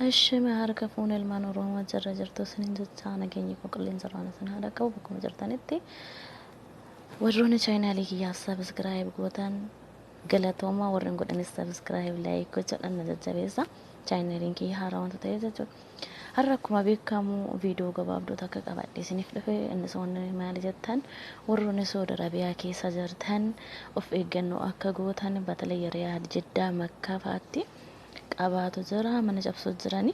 Asheme harka fuune ilmaan Oromoo achi irra jirtu isiniin jechaa nageenyi koo qilleensa irraan isin haa dhaqqabu bakkuma jirtanitti warroonni chaayinaalii kiyyaaf sabiskiraayib gootan galatoomaa warri hin godhanis sabiskiraayib laayik gochadhaan na jajjabeessa chaayinaaliin kiyya haaraa wanta ta'eef jechuudha har'a akkuma beekamu viidiyoo gabaabduu takka qabadhe isiniif dhufe innis wanni maali jettan warroonni Saudi Arabiyaa keessa jirtan of eeggannoo akka gootan batalee Riyaad Jiddaa Makkaa fa'aatti qabaatu jira mana cabsuu jirani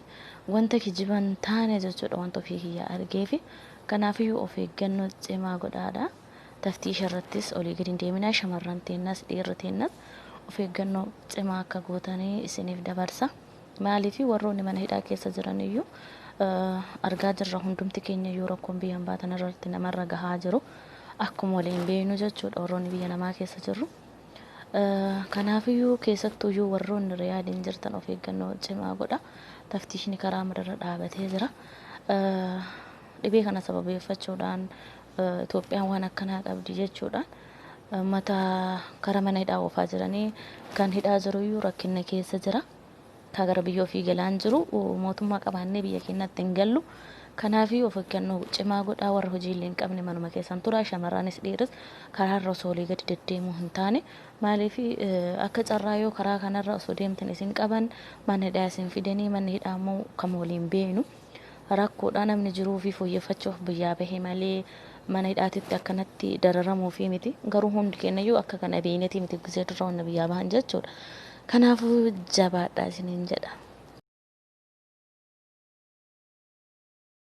wanta kijiban taane jechuudha wanta ofii kiyyaa argeefi kanaafiyyuu of eeggannoo cimaa godhaadha taftiisha irrattis olii gadi hin deeminaa shamarran teennas dhiirri teennas of eeggannoo cimaa akka gootanii isiniif dabarsa maaliifi warroonni mana hidhaa keessa jiraniyyuu argaa jirra hundumti keenya iyyuu rakkoon biyya hambaa tanarratti namarra gahaa jiru akkuma waliin beeknu jechuudha warroonni biyya namaa keessa jirru. Kanaafiyyuu keessattuuyyuu warroonni Riyaadiin jirtan of eeggannoo cimaa godha. Taftiishni karaa mararra dhaabatee jira. Dhibee kana sababeeffachuudhaan Itoophiyaan waan akkanaa qabdi jechuudhaan mata kara mana hidhaa oofaa jiranii kan hidhaa jiruyyuu rakkinna keessa jira. Ka gara biyya ofii galaan jiru mootummaa qabaannee biyya keennaatti hin gallu. Kanaafi of eggannoo cimaa godhaa warri hojii illee hin qabne manuma keessan turaa shamarranis dhiiris karaa irra osoo olii gadi deddeemuu hin taane. Maaliif akka carraa yoo karaa kanarra osoo deemtan isin qaban mana hidhaa isin fidanii manni hidhaa immoo kan waliin beeknu. Rakkoodha namni jiruu ofii fooyyeffachuuf biyyaa bahe malee mana hidhaatitti akkanatti dararamuufii miti. Garuu hundi keenyayyuu akka kana beeynetii miti gisee durra wanna biyyaa bahan jechuudha. Kanaafuu jabaadhaa isiniin jedha.